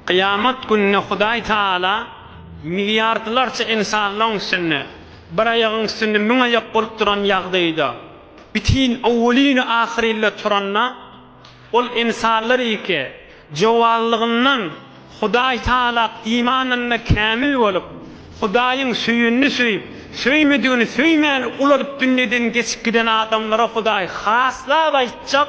Kyýamat gününe Hudaý Tagala milliardlarça ynsanlaryň üstünde, bir aýagyň üstünde müň aýak bolup duran ýagdaýda, bitin owwelin-ahyrinle turanda, Ol ynsanlar ilki jowazlygyndan Hudaý Tagala imanynda kämil bolup, Hudaýyň söýenini söýüp, söýmedigini söýmäni ulalyp dünýeden geçip giden adamlara Hudaý haslap aýtjak,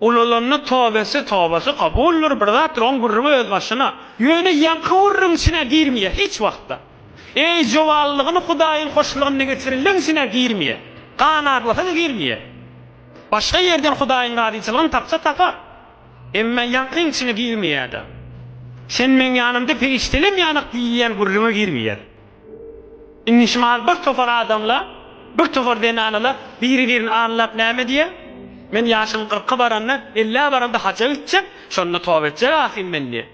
Ulalanda tobesi tobasy kabuldyr bir zatdyr oň gürrüňi öz başyna. Ýöne ýaňky gürrüň içine girmeýär hiç wagtda. Eý jowanlygyny hudaýyň hoşlygynda geçirenleň içine girmeýär. Gan aglasa-da girmeýär. Başga ýerden hudaýyň razyçylygyny tapsa tapar. Emma ýaňkyň içine girmeýär-de. Sen meň ýanymda perişdelem ýanak diýilýän gürrüňe girmeýär. Indi şumal bir topar adamlar, bir topar zenanalar biri-birini anlap näme diýer? Men ýaşym kyrka baranda, ellä baranda haja gitjek, şonda toba etjek ahyryn men diýer.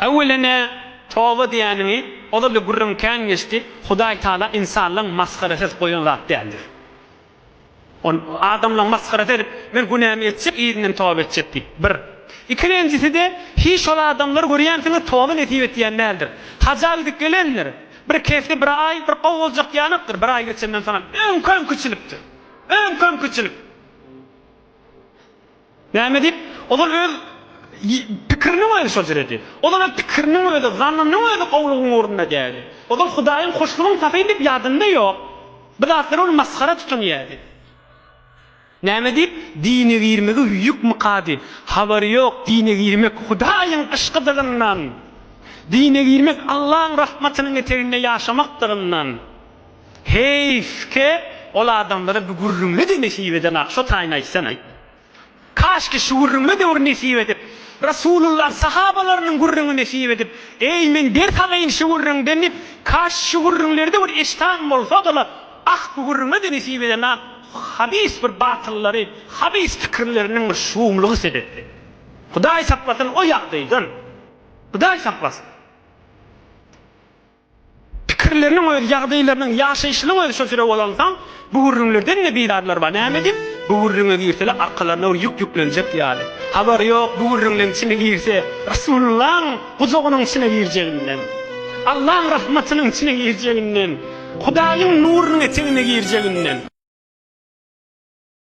Äwwela nä, toba diýäniňi ozal-da gürrüň kän geçdi, Hudaýtagala ynsanlaryň masgarasy goýan zat däldir. Ol adamlaň masgarasy edip, Men günämi etjek, yzyndan toba etjek diýip, bir. Ikilenjisi-de, Hiç şol adamlary görýänsiňiz, toba nesip etýän däldir. Haja gidip gelendir. Bir kesgi bir aý, bir gowy boljak ýanykdyr. Bir aý geçenden soňam öňkem kiçilipdir. Öňkem kiçilip. Näme diýip? Ozal öz pikiriniň özi şol jüredi. Ozal öz pikiriniň özi, zannynyň özi gowulygyň ornuna dädi. Ozal Hudaýyň hoşlugyň tapyn diýip ýadynda ýok. Bu zatlar ony masgara tutan ýerdi. Näme diýip? Dine girmegi hüýük mykady. Habary ýok, dine girmek Hudaýyň yşkydygyndan. Dine girmek Allaň rahmatynyň eteginde ýaşamakdygyndan. Heýfke ol adamlara bu gürrüňle de nesip edenok şo taýyny aýtsanaý. Kaşki şu gürrüňle döwri nesip edip, Rasulullah sahabalarynyň gürrüňi nesip edip, eý men ders alaýyn şu gürrüňden diýip, kaş şu gürrüňlerde bir eşdan bolsadylar, ah bu gürrüňle de nesip edenok habis bir batyllary, habis pikirleriniň bir şumlugy sebepli. Hudaý saklasyn o ýagdaýdan. Hudaý saklasyn. Pikirleriniň özi, ýagdaýlarynyň, ýaşaýşynyň özi şo süre bolansoň, bu gürrüňlerden-de bizarlar bar. Näme edip, bu gürrüňe girseler, arkalaryna bir ýük ýüklenjek ýaly. Habary ýok, bu gürrüňleň içine girse, Resulyllaň gujagynyň içine girjeginden, Allaň rahmatynyň içine girjeginden, Hudaýyň nurunyň etegine girjeginden.